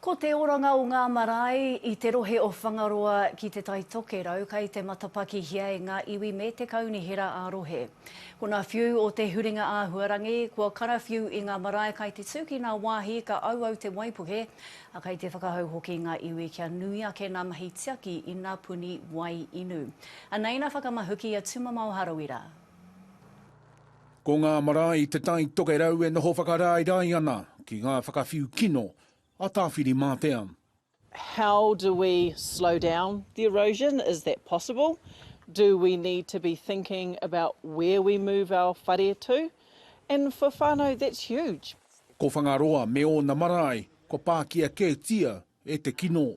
Ko te oranga o ngā marae i te rohe o Whangaroa ki Te Tai Tokerau kei te matapakihia e ngā iwi me te kaunihera ā-rohe. Ko ngā whiu o te huringa āhuarangi, kua karawhiu i ngā marae kai te tū ki ngā wāhi ka auau te waipuke, ā, kei te whakahau hoki ngā iwi kia nui ake ngā mahi tiaki i ngā puni wai inu. Anei ngā whakamahuki a Tumamao Harawira. Ko ngā marae Te Tai Tokerau e noho whakaraerae ana ki ngā whakawhiu kino a Tāwhirimātea. How do we slow down the erosion, is that possible? Do we need to be thinking about where we move our whare to? And for whānau that's huge. Ko Whangaroa me ōna marae kua pākia kētia e te kino.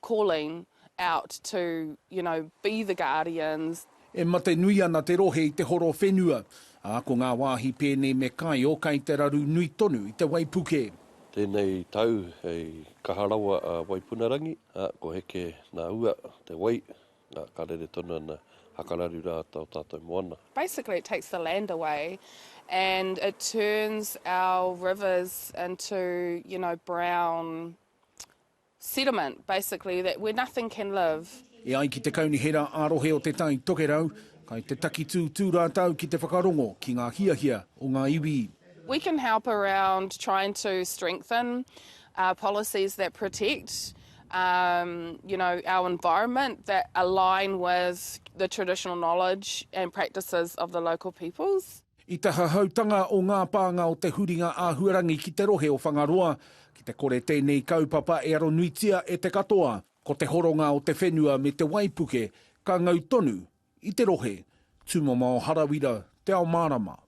calling out to you know be the guardians. E mate nui ana te rohe i te horo whenua, ā, ko ngā wāhi pēnei me Kaio kai te raru nui tonu i te waipuke. Tēnei tau hei kaha rawa a Waipunarangi, ā, ko Heke nā Ua te wai, ā, ka rere tonu ana hakararu rā ō tātou moana. Basically it takes the land away and it turns our rivers into you know brown settlement, basically, that where nothing can live. E ai ki te Kaunihera ā-Rohe o Te Tai Tokerau, kai te takitūtū rātou ki te whakarongo ki ngā hiahia o ngā iwi. We can help around trying to strengthen uh, policies that protect um, you know, our environment that align with the traditional knowledge and practices of the local peoples. I te hahautanga o ngā pānga o te huringa āhuarangi ki te rohe o Whangaroa, ki te kore tēnei kaupapa e aronuitia e te katoa, ko te horonga o te whenua me te waipuke ka ngau tonu i te rohe, tūmama o Harawira, Te Ao Mārama.